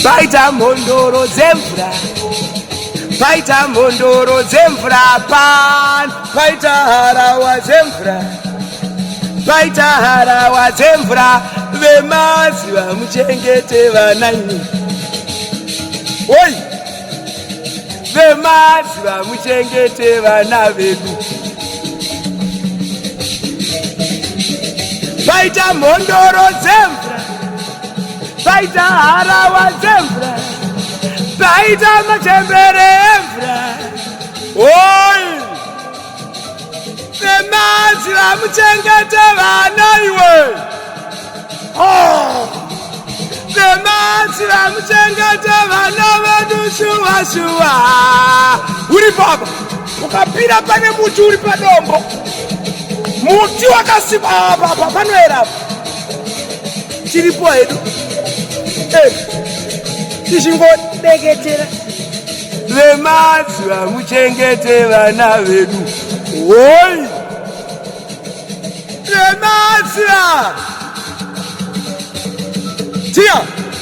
paita mhondoro dzemvura paita mhondoro dzemvura pan paita harawa dzemvura paita harawa dzemvura vemaziva muchengete vananyi oi vemaziva muchengete vana vedu paita mhondoro dzemvura Paita harawa dzemvura, paita machembere emvura, oi nemadzi vamuchengete vana iwe oh. nemadzi vamuchengete vana vedu shuwa shuwa uri papa ukapira pane muti uri padombo muti wakasimba apa panoera apa tiripo hedu eh, tichingodeketera vemazuva muchengete vana vedu hoi vemazuva tiya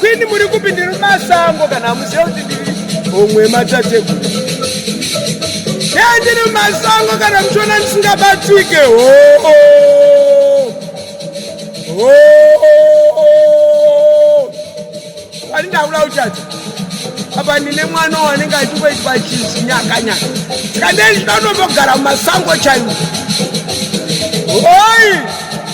Kwini muri kupi ndiri masango kana hamuziva kuti ndiri homwe matateguru dai ndiri masango kana muchiona ndisingabatike hoo ani ndaula uchati apa ndine mwana wanenge achingoitwa chinzi nyakanyaka saka ndei ndinotombogara mumasango chaiwo hoi